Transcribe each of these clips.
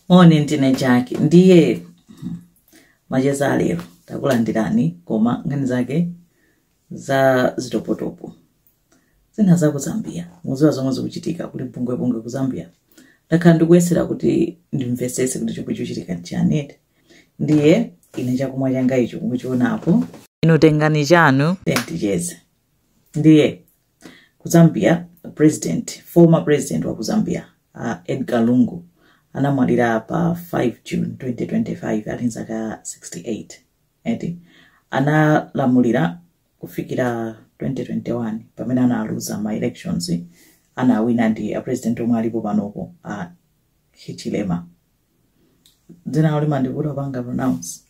moni ndine jaki ndiye macheza alero takulandirani koma nkhani zake za zitopotopo zina za ku zambia muziwa zomwe zikuchitika kuli mpungwepungwe ku zambia ndakhala ndikuyesera kuti ndimvesese kuti chomwe chikuchitika nchiyani eti ndiye ine chakumwa changa icho mukuchionapo inu tengani chanu ticheze ndiye Ku Zambia, president, former president wa ku Zambia, uh, Edgar Lungu, anamwalira pa 5 June 2025 ali nzaka 68. Eti, analamulira kufikira 2021 pamene analuza ma elections anawina ndi a president omwe alipo panopo a Hichilema. dzina limandivuta kupanga pronounce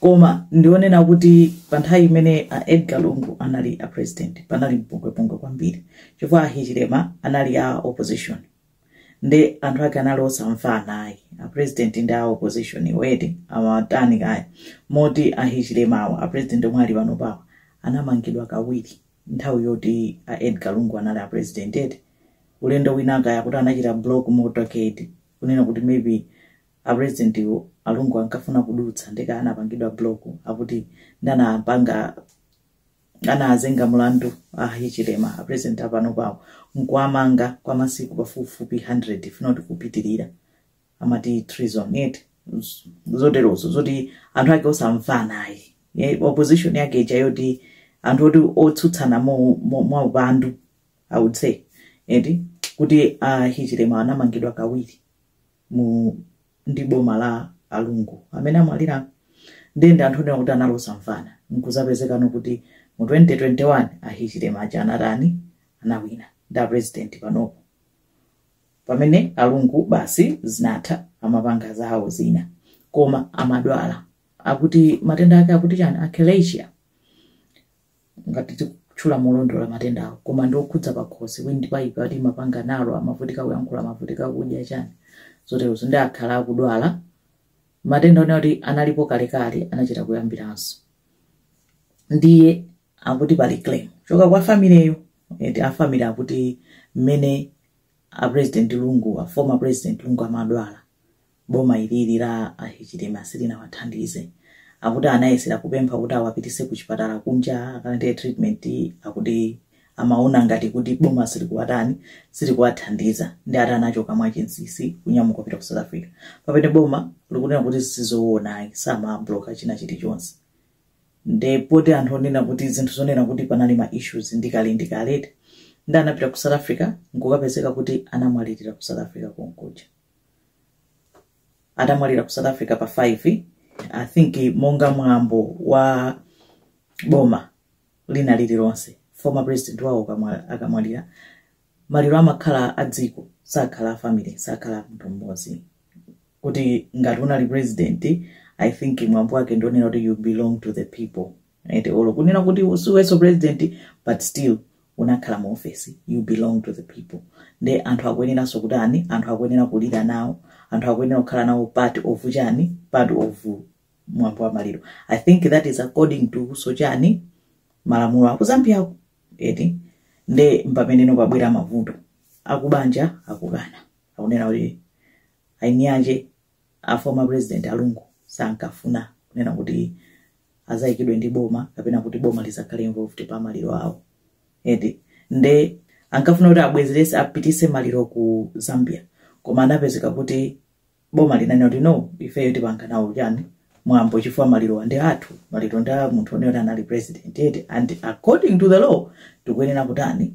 koma ndionena kuti pa nthawi imene a edgar lungu anali a president panali mpungwepungwe kwambiri chifukwa ahichilema anali a opposition ndi anthu ake anali osamvana ayi a president ndi a opposition eti amatani kaya moti ahichilema awa a president omwe ali panopa awa anamangidwa kawiri nthawi yoti a edgar lungu anali a president eti ulendo winawake akuti anachita block motorcade kunena kuti maybe a president wo alungu ankafuna kudutsa nde anapangidwa block akuti nde anapanga anawazenga mulandu ahichilema a president apanopawo nkuwamanga kwa masiku pafupifupi 100 if not kupitirira amati treason eti z- zoterozo zoti anthu ake osamvana ayi eti opposition yake ija yoti anthu oti otsutsana mo- mo- mwaupandu i would say eti kuti a hichilema anamangidwa kawiri mu ndi boma la alungu amene amwalira ndiye ndi anthu onena kuti anali osamvana nkuzapezeka no kuti mu 2021 a hichilema aja anatani anawina ndi apresident panopo pamene alungu basi zinatha amapanga zawo zina koma amadwala akuti matenda ake akuti chani achalasia ngati tikutchula molondola matendawo koma ndi okhudza pakhosi windpipe ati imapanga narrow amavutika kuyankhula amavutika kudya chani zoterozo nde akhala akudwala matenda onena kuti analipo kalekale anachita kuyambiranso ndiye akuti pali claim kuchoka kwa family yo eti a family akuti mmene a president lungu a former president lungu amadwala Boma ilili la a Hichilema silinawathandize. Akuti anayesera kupempha kuti awapititse kuchipatala kunja akalandire treatment akuti amaona ngati kuti boma silikuwatani, silikuwathandiza nde ati anachoka mwachinsinsi kunyamuka kupita ku South Africa. Pamene boma likunena kuti sizoona ayi samabloka china chilichonse. Nde poti anthu onena kuti zinthu zonena kuti panali ma issues ndi kale ndi kale eti nde anapita ku South Africa nkukapezeka kuti anamwalirira ku South Africa konkuja. atamwalira ku south africa pa 5 i think monga mwambo wa boma lina lililonse former president wawo akamwalira maliro amakhala a dziko sakhala a family sakhala a munthu mmodzi kuti ngati unali president i think mwambo wake ndi wonena kuti you belong to the people ete or kunena kuti usiwenso president but still unakhala mu office you belong to the people nde anthu akuyeneranso kutani anthu akuyenera kulira nawo anthu akuyenera kukhala nawo part of chani part of mwambo wa maliro i think that is according to so chani malamulo aku zambiako eti nde mpameneno pabwera mavuto akubanja akukana akunena kuti ainiyanje a former president a lungu sankafuna kunena kuti azayikidwe ndi boma kapena kuti boma lizakhale involved pa maliro awo eti nde ankafuna kuti abwezerese apitise maliro ku zambia koma anapezeka kuti boma linanena kuti no ifeyo tipanga nawo chani mwambo chifukwa maliro ndi athu maliro ndi a munthu onena anali president eti and according to the law tikuyenera kutani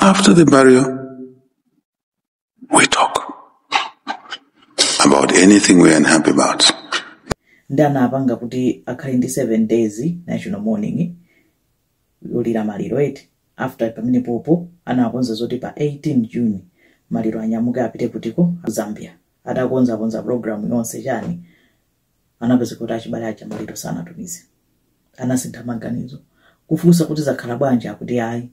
After the burial, we talk about anything we're unhappy about. nde anapanga kuti akhale ndi 7 days national mourning yolira maliro eti after pamene popo anakonza zoti pa 18 june maliro anyamuke apite kutiko zambia atakonzakonza program yonse chani anapezeka kuti achibale aja maliro sanatumize anasintha maganizo kufunsa kuti zakhala bwanji akuti ayi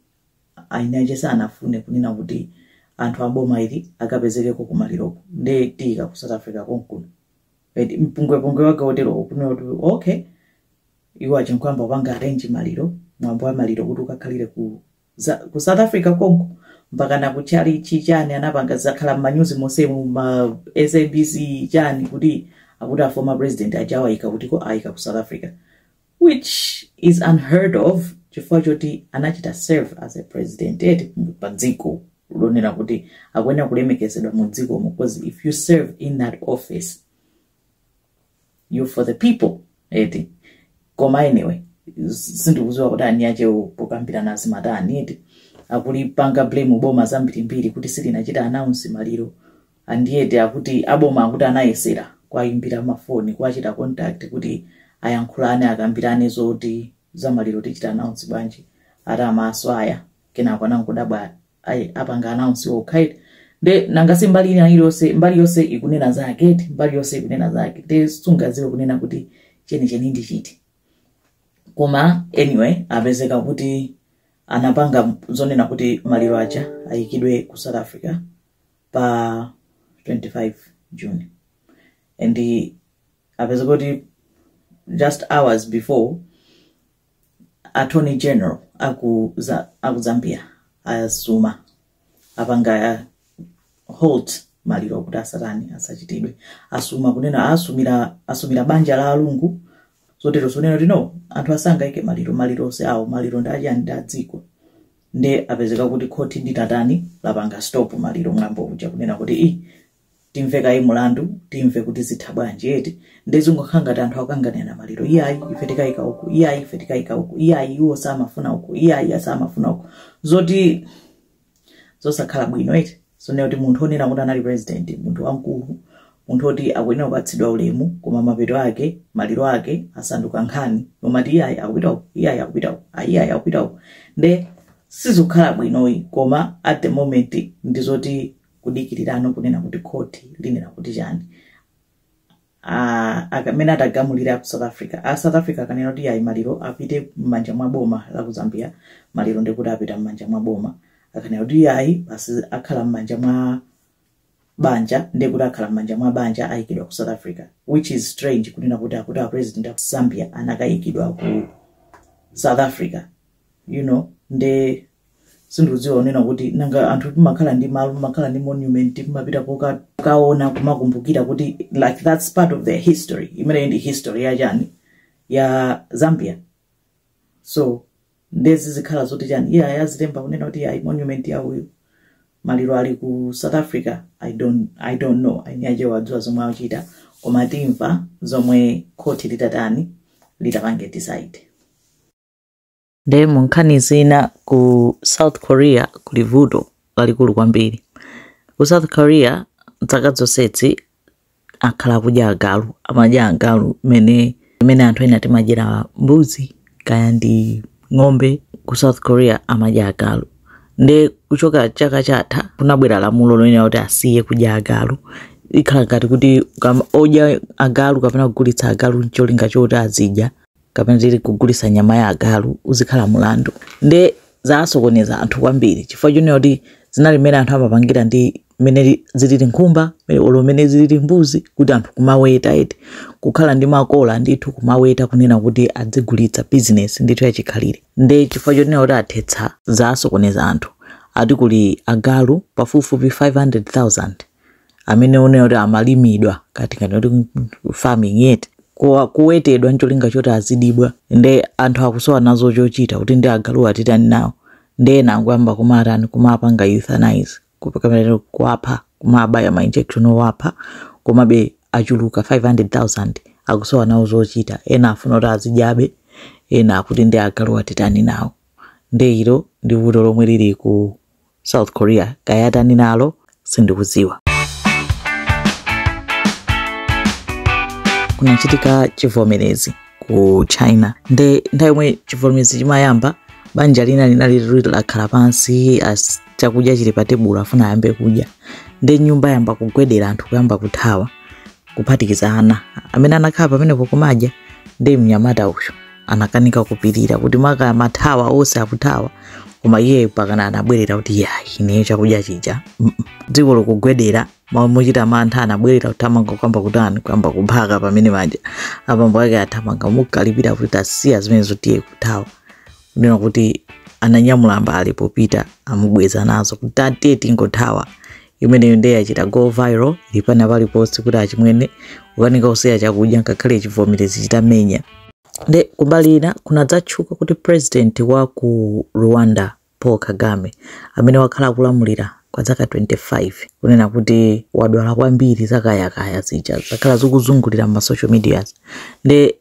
ayinaje sanafune kunena kuti anthu aboma ali akapezekeko kumaliroko nde tiyika ku south africa konkuno Eti, mpungwepungwe wake wotero ukunena kuti okay iwo akhala akupanga arrange maliro mwambo wa maliro kuti ukakhalire ku ku south africa konko mpakana ku chalichi chani anapanga zakhala m'manyuzi monsemu ma sabc chani kuti akuti a former president aja awaika kutiko ayika ku south africa which is unheard of chifukwa choti anachita serve as a president eti pa dziko lonena kuti akuyenera kulemekezedwa mu dzikomo because if you serve in that office you for the people eti koma anyway sindikuziwa kuti anzathuwo pokambirana azimatani eti akulipanga blame boma zambirimbiri kuti silinachita announce maliro and yet akuti aboma akuti anayesera kwayimbira mafoni kwachita contact kuti ayankhulane akambirane zoti zamaliro tichita announce bwanji ati amawasiya kenako anangodabwa ayi apanga announce okha eti nde nanga si mbali ina iliyonse mbali yonse ikunena zake eti mbali yonse ikunena zake nde sungaziwe kunena kuti chenicheni ndi chiti koma anyway apezeka kuti anapanga zonena kuti maliro achani ayikidwe ku south africa pa 25 june and apezeka kuti just hours before Attorney General aku za aku Zambia asuma apanga halt maliro kuti asatani asachitidwe asuma kunena asumira asumira banja la alungu zoterozo zonena kuti no anthu asangoika maliro mwa iwo okha awo maliro ndi achani ndi adziko nde apezeka kuti khoti linatani lapanga stop maliro mwambo uja kunena kuti i timve kaye mulandu timve kuti zitha bwanji eti nde zingokhala ngati anthu akukanganirana maliro iyayi ife tikayika uku iyayi ife tikayika uku iyayi iwo samafuna uku iyayi asamafuna uku ndi zosakhala bwino eti zonena kuti munthu onena kuti anali president munthu wamkulu munthu oti akuyenera kupatsidwa ulemu koma mapeto ake maliro ake asanduka nkhani yomati iyayi akupita uku iyayi akupita uku ah, iyayi akupita uku nde sizikukhala bwinoyi koma at the moment ndizoti kudikirira no kunena kuti khoti linena kuti chani mmene atagamulire ku south africa a south africa akanena kuti ayi maliro apite m'manja mwa boma la ku zambia maliro ndekuti apita m'manja mwa boma akanena kuti ayi basi akhala m'manja mwa banja ndekuti akhala m'manja mwa banja ayikidwa ku south africa which is strange kunena kuti akuti a president aku zambia anakayikidwa ku south africa you know nde sindikudziwa kunena kuti nanga anthu timakhala ndi malo timakhala ndi monument timapita pokaona kumakumbukira kuti like that's part of their history imeneyi ndi history ya chani ya zambia so nde zizikhala zoti chani iyayi azilemba kunena kuti ayi monument ya uyu maliro ali ku south africa i don't, I don't know eni ake adziwa zomwe akuchita koma timva zomwe khoti litatani litapange decide Nde mu nkhani zina ku South Korea kuli vuto lalikulu kwambiri. Ku South Korea zaka zonsezi akhala akudya agalu, amadya agalu mene mene anthu ena timadyera mbuzi kaya ndi ng'ombe ku South Korea amadya agalu. Nde kuchoka chaka chatha kunabwera lamulo lonena kuti asiye kudya agalu. Ikhala ngati kuti kama- odya agalu kapena kugulitsa agalu ncholinga choti azidya kapena titi kuti kugulisa nyama ya agalu uzikhala mulandu nde zasokoneza anthu kwambiri chifukwa chonena kuti zinali mmene anthu amapangira ndi mmene zilili nkhumba mmene- olo mmene zilili mbuzi kuti anthu kumaweta eti kukhala ndi makola ndithu kumaweta kunena kuti adzigulitsa bizinesi ndithu yachikhalire nde chifukwa chonena kuti athetsa zasokoneza anthu ati kuli agalu pafupifupi 500000 amene onena kuti amalimidwa kati ngati kuti farming yet kuwa- kuwetedwa ncholinga choti azidyedwa nde anthu akusowa nawo chochita kuti ndi agalu atitani nawo nde ena akuyamba kumatani kumapanga euthanize kup- kapena kuwapha kumabaya ma injection owapha komabe achuluka 500000 akusowa nawo zochita ena afuna kuti azidyabe ena akuti ndi agalu atitani nawo nde ilo ndi vuto lomwe lili ku South Korea kaya atani nalo sindikuziwa. Kunachitika chivomerezi ku China nde nthawi yomwe chivomerezi chimayamba banja lina linali liri lakhala pansi chakudya chili pa tebulo afuna ayambe kudya nde nyumba yamba kugwedera anthu kuyamba kuthawa kuphatikiza ana amene anakhala pamenepo kumadya nde mnyamata uyu anakanika kupirira kuti amakathawa onse akuthawa koma iye pakana anabwerera kuti yayi ineyo chakudya chija mm -mm. dziko likugwedera ma- mochita mantha anabwerera kuthamanga kuyamba kutani kuyamba kuphaka pamene maja abambo ake athamanga kumukalipira kuti tasiya zimenezo tiye kuthawa kunena kuti ananyamula mbale popita amubweza nazo kuti tatiye tingothawa imeneyo ndiye yachita go viral ili pena paliponse kuti achimwene kukanika kusiya chakudya ngakhale chivomerezi chitamenya nde kumbali ina kunadzatchuka kuti president wa ku rwanda paul kagame amene wakhala akulamulira kwa zaka 25 kunena kuti wadwala kwambiri zakayakaya zija zakhala zikuzungulira m'masocial medias nde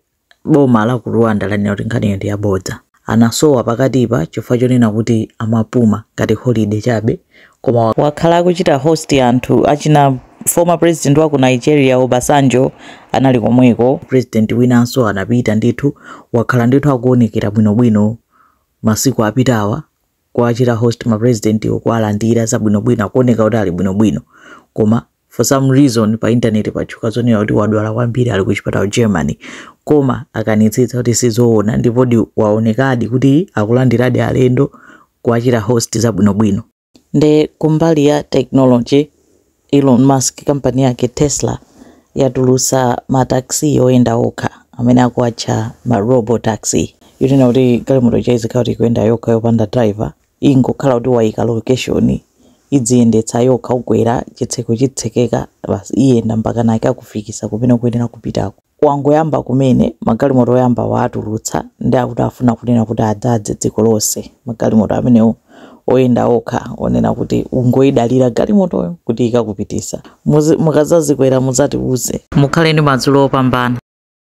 Boma la ku Rwanda lanena kuti nkhaniyo ndi yabodza. Anasowa pakatipa chifukwa chonena kuti amapuma ngati holiday chabe koma wakhala akuchita host anthu achina former president wa ku Nigeria Obasanjo anali komweko, president winanso anapita ndithu, wakhala ndithu akuonekera bwinobwino masiku apitawa kuwachita host ma presidentiwo kuwalandira zabwinobwino akuoneka kuti ali bwinobwino koma for some reason pa intaneti patchuka zonena kuti wadwala kwambiri ali ku chipatala germany koma akanitsitsa kuti sizoona ndipodi waonekadi kuti akulandiradi alendo kuwachita host zabwinobwino nde kumbali ya technology elon musk kampani yake tesla yatulusa mataxi oyenda okha amene akuwatcha ma robo taxi yonena kuti galimoto yake izikhala kuti ikuyenda yokha yopanda driver ingokhala kuti waika location idziyendetsa yokha ukwera chitseko chitsekeka basi iyenda mpakana ikakufikisa kumene ukuyenera kupitako wangoyamba kumene magalimoto oyamba waatulutsa ndi akuti afuna kunena kuti adzadze dziko lonse magalimoto amenewo oyenda okha onena kuti ungoidalira galimotoyo kuti ikakupitisa mukazazikwera muzatiuze mukhale ndi madzulo opambana